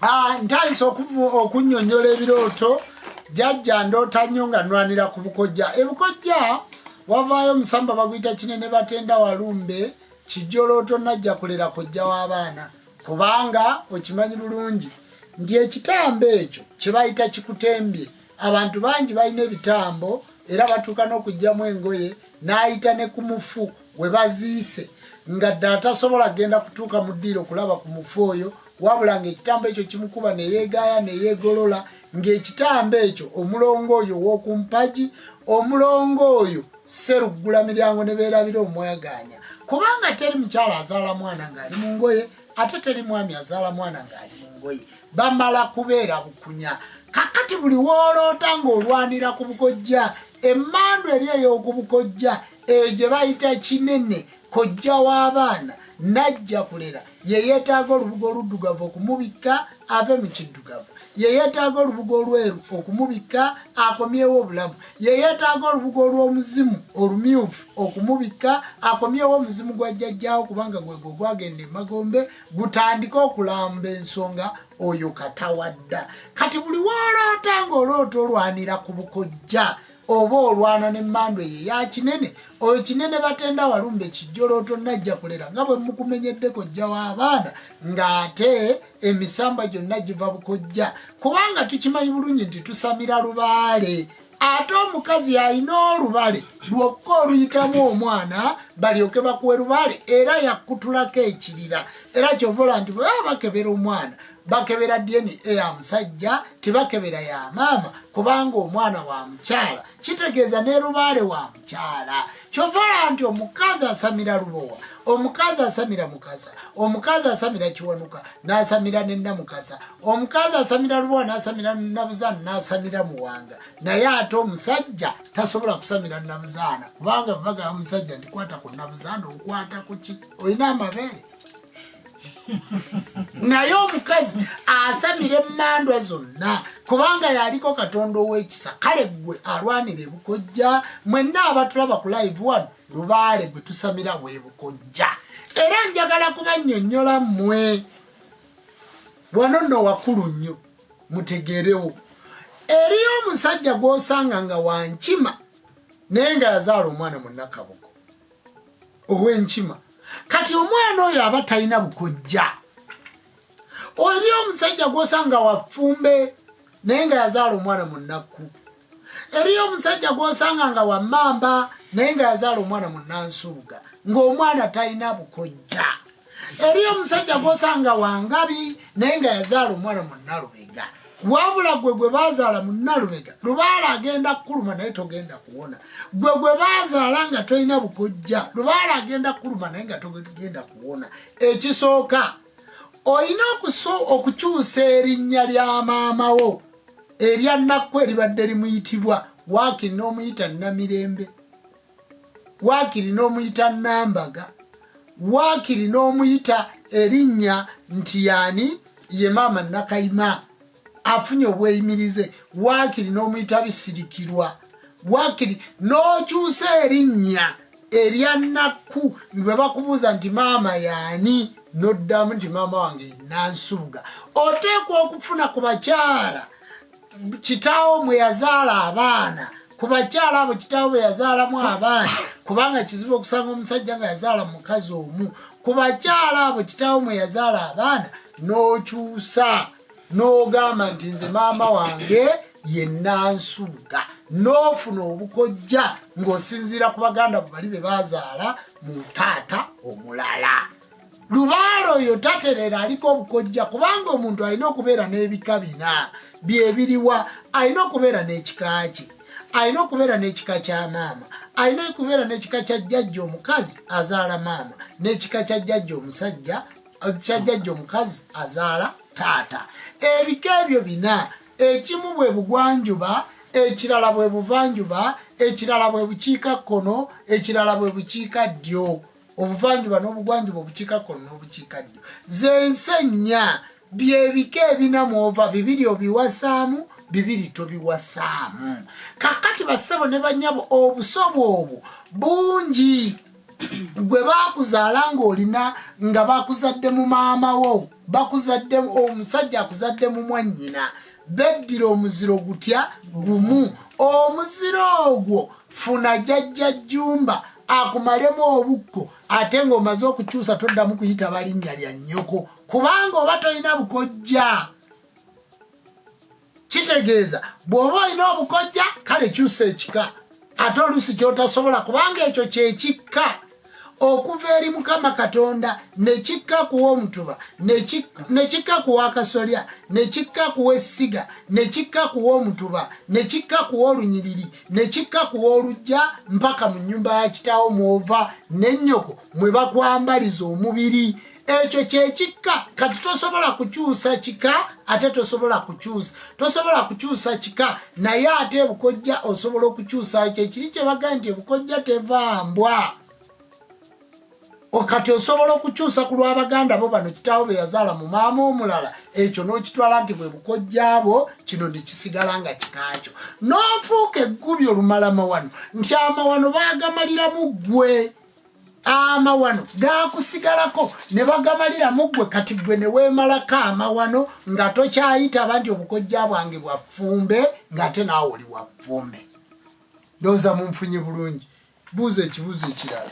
ah, ntandise okunyonyola ebirooto jajja ndoota nnyo nga nwanira ku bukojja ebukojja wavaayo omusamba baguyita kinene batenda walumbe kijolooto najja kulera kojja w'abaana kubanga okimanyi bulungi nti ekitambo ekyo kyebayita kikutembye abantu bangi balina ebitambo era batuuka n'okugyamu engoye n'ayita ne ku mufu we baziise nga dda atasobola genda kutuuka mu ddiiro okulaba ku mufu oyo wabula ng'ekitambo ekyo kimukuba neyeegaaya neyeegolola ng'ekitambo ekyo omulongo oyo ow'oku mpagi omulongo oyo seruggula miryango ne beerabira omwagaanya kubanga teri mukyala azaala mwana ng'ali mu ngoye ate teri mwami azaala mwana ng'ali mu ngoye bamala kubeera bukunya kakati buli wooloota ng'olwanira ku bukojja emmandu eri ey'oku bukojja eyo gye bayita kinene kojja w'abaana najja kulera yeyeetaaga olubugo oluddugavu okumubikka ave mu kiddugavu yeyeetaaga olubugo olweru okumubikka akomyewo obulamu yeyeetaaga olubugo olw'omuzimu olumyufu okumubikka akomyewo omuzimu gwa jjajjaawo kubanga gwego ogwagenda emagombe gutandike okulamba ensonga oyo katawadda kati buli woloota ng'oloota olwanira ku bukojja oba olwana ne mando ye ya kinene oyo kinene batenda walumba ekijjolooto najja kulera nga bwe mukumenyeddeko jja w'abaana ng'ate emisamba gyonna giva bukojja kubanga tukimanyi bulungi nti tusamira lubaale ate omukazi alina olubale lwokka oluyitamu omwana balyoke bakuwe lubale era yakutulako ekirira era kyovola nti bwebaba bakebera omwana bakebera dna ya musajja tebakebera ya maama kubanga omwana wa mukyala kitegeeza ne lubaale wa mukyala kyovala nti omukazi asamira lubowa omukazi asamira mukasa omukazi asamira kiwanuka nasamira nenamukasa omukazi asamira lubowa nasamira nabuzaana nasamira muwanga naye ate omusajja tasobola kusamira nabuzaana kubanga vaga musajja ndikwata ku nabuzaana okwata kuki olina amabeere naye omukazi asamira emandwa zonna kubanga yaliko katonda owekisa kale gwe alwanira ebukojja mwenna abatulaba ku live wano lubaale gwe tusamira webukojja era njagala kubanyonyola mwe wano no wakulu nnyo mutegerewo eriyo omusajja gwosanga nga wankima naye nga yazaala omwana munakabuko owenkima kati omwana oyo aba talina bukojja oli omusajja gwosanga wafumbe naye nga yazaala omwana munakku eriyo omusajja gwosanga nga wamamba naye nga yazaala omwana munansuuga ngaomwana talina bukojja eriyo omusajja gwosanga wangabi naye nga yazaala omwana munalubega wabula gwe gwe bazaala munalubega lubaala agenda kukuluma naye togenda kuwona gwe gwe bazaala nga tolina bukojja lubaala agenda kukuluma naye nga togenda kuwona ekisooka olina okukyusa erinnya lya maama wo erya nakku eribadde limuyitibwa waakiri n'omuyita namirembe waakiri n'omuyita nambaga waakiri n'omuyita erinnya nti yaani ye maama nakayima afunye obweyimirize waakiri n'omuyita bisirikirwa waakiri n'okyusa erinnya erya nakku bwe bakubuuza nti maama yaani noddamu nti maama wange nansubuga oteekwa okufuna ku bakyala kitaawo mwe yazaala abaana ku bakyala abo kitaawo bwe yazaalamu abaana kubanga kizibu okusanga omusajja nga yazaala mukazi omu ku bakyala abo kitaawo mwe yazaala abaana n'okyusa n'ogamba nti nze maama wange yenansuuga n'ofuna obukojja ng'osinziira ku baganda bwe bali be bazaala mu taata omulala lubaale oyo taterera aliko obukojja kubanga omuntu alina okubeera n'ebika bina byebiriwa alina okubeera n'ekika kye alina okubeera n'ekika kya maama alina okubeera n'ekika kya jjajja omukazi azaala maama n'ekika kya jjajja omusajja kya jjajja omukazi azaala taata ebika ebyo bina ekimu bwe bugwanjuba ekirala bwe buvanjuba ekirala bwe bukiika kkono ekirala bwe bukiika ddyo obuvanjuba n'obugwanjuba obukiikakkono n'obukiikaddyo z'ensi ennya byebika ebina mwova bibiri obiwasaamu bibiri tobiwasaamu kakati bassebo ne banyabo obusobo obwo bungi gwe bakuzaala ng'olina nga bakuzadde mu maama wo bakuzadde omusajja akuzadde mu mwannyina beddira omuziro gutya gumu omuziro ogwo funa jajja jumba akumalemu obukko ate ng'omaze okukyusa toddamu kuyita balinnya lya nnyoko kubanga oba tolina bukojja kitegeeza bw'oba olina obukojja kale kyusa ekika ate oluusi kyotasobola kubanga ekyo kyekikka okuva eri mukama katonda nekikka kuwa omutuba nekikka kuwa akasolya nekikka kuwa essiga nekikka kuwa omutuba nekikka kuwa olunyiriri nekikka kuwa olujja mpaka mu nyumba ya kitaawo mwova nennyoko mwe bakwambaliza omubiri ekyo kyekikka kati tosobola kukyusa kika ate tosobola kukyusa tosobola kukyusa kika naye ate ebukojja osobola okukyusayo kyekiri kyebaga nti ebukojja tevambwa kati osobola okukyusa ku lwabaganda bo bano kitaawo beyazaala mu maama omulala ekyo nokitwala nti bwebukojjaabo kino nekisigala nga kikakyo nofuuka eggubi olumalama wano nti amawano bagamaliramu ggwe amawano gakusigalako ne bagamalira muggwe kati gwe ne weemalako amawano nga tokyayitaba nti obukojja bwange bwa ffumbe ng'ate naawe oli wa ffumbe ndowooza munfunye bulungi buuza ekibuuzo ekirala